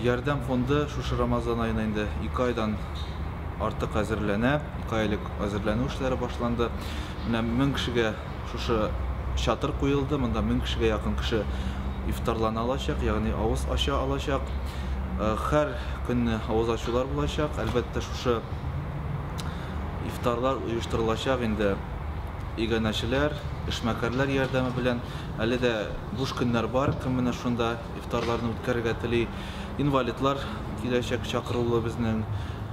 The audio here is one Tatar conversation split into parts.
Ярдәм фонды шушы Рамазан аена инде ике айдан артык әзерләнә. Ике ай элек әзерләнү эшләре башланды. Менә мең кешегә шушы чатыр куелды. Монда мең кешегә якын кеше ифтарлана алачак, ягъни авыз ача алачак. Һәр көнне авыз ачулар булачак. Әлбәттә, шушы ифтарлар оештырылачак инде иганәчеләр, эшмәкәрләр ярдәме белән. Әле дә буш көннәр бар, кем менә шунда ифтарларны үткәрергә тели. Инвалидлар киләчәк чакырулы безнең,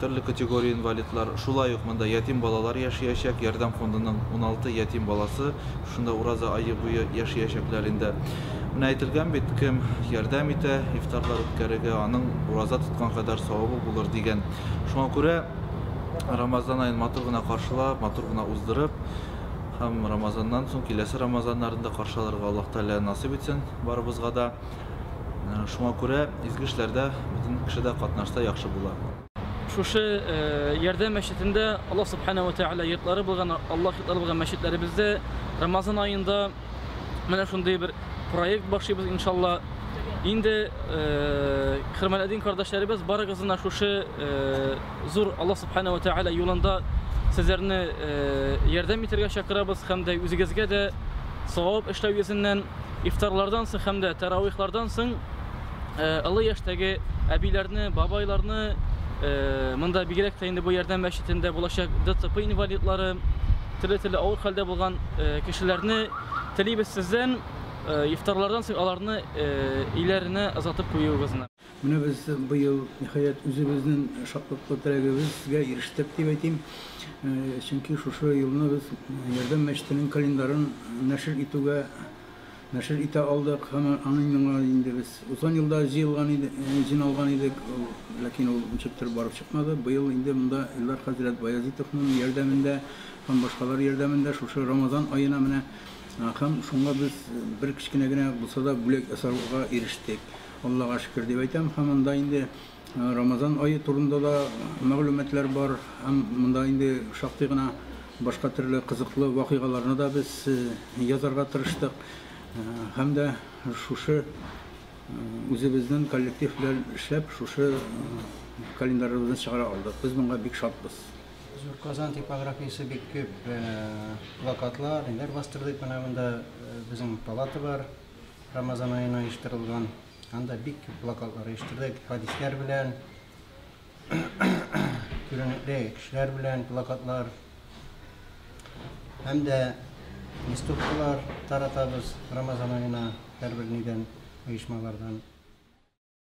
төрле категория инвалидлар. Шулай ук монда ятим балалар яшиячәк, Ярдәм фондының 16 ятим баласы шунда ураза ае буе яшиячәкләр инде. Менә әйтелгән бит, кем ярдәм итә ифтарлар үткәрергә, аның ураза тоткан кадәр савабы булыр дигән. Шуңа күрә Рамазан аен матур гына каршылап, матур гына уздырып һәм Рамазаннан соң киләсе Рамазаннарны да каршы алырга Аллаһ Тәгалә насыйп итсен. Барыбызга да. Шуңа күрә изге эшләрдә бөтен кеше дә катнашса яхшы була. Шушы Ярдәм мәчетендә Аллаһ Субхана уә Тәгалә йортлары булган, Аллаһ йортлары булган мәчетләребездә Рамазан аенда менә шундый бер проект башлыйбыз иншалла. Инде хөрмәтле кардәшләребез барыгызны да шушы зур Аллаһ Субхана уә Тәгалә юлында сезләрне ярдәм итәргә чакырабыз һәм дә үзегезгә дә савап эшләү йөзеннән Ифтарлардан соң һәм дә тәравыйхлардан соң олы яшьтәге әбиләрне, бабайларны, монда бигрәк тә инде бу Ярдәм мәчетендә булачак ДЦП инвалидлары, төрле-төрле авыр хәлдә булган кешеләрне телибез сездән ифтарлардан соң аларны өйләренә озатып куюыгызны. Менә без быел, ниһаять, үзебезнең шатлыклы теләгебезгә ирештек дип әйтим. Чөнки шушы елны без Ярдәм мәчетенең календарын нәшер итүгә нәшер итә алдык һәм аны миңа инде без узган елда җыелган иде, җыйналган идек, ләкин ул ничектер барып чыкмады. Быел инде монда Илдар хәзрәт Баязитовның ярдәмендә һәм башкалар ярдәмендә шушы Рамазан аена менә һәм шуңа без бер кечкенә генә булса да бүләк ясарга ирештек. Аллага шөкер дип әйтәм һәм монда инде Рамазан ае турында да мәгълүматлар бар һәм монда инде шактый гына башка төрле кызыклы вакыйгаларны да без язарга тырыштык һәм дә шушы үзебезнең коллектив белән эшләп шушы календарыбызны чыгара алдык. Без монга бик шатбыз. Зур Казан типографиясе бик күп плакатлар, ниләр бастырдык. Менә монда безнең палата бар. Рамазан аена оештырылган. Анда бик күп плакатлар оештырдык. Хәдисләр белән, күренекле кешеләр белән плакатлар. Һәм дә листовкалар таратабыз Рамазан аена һәрбер нидән, оешмалардан.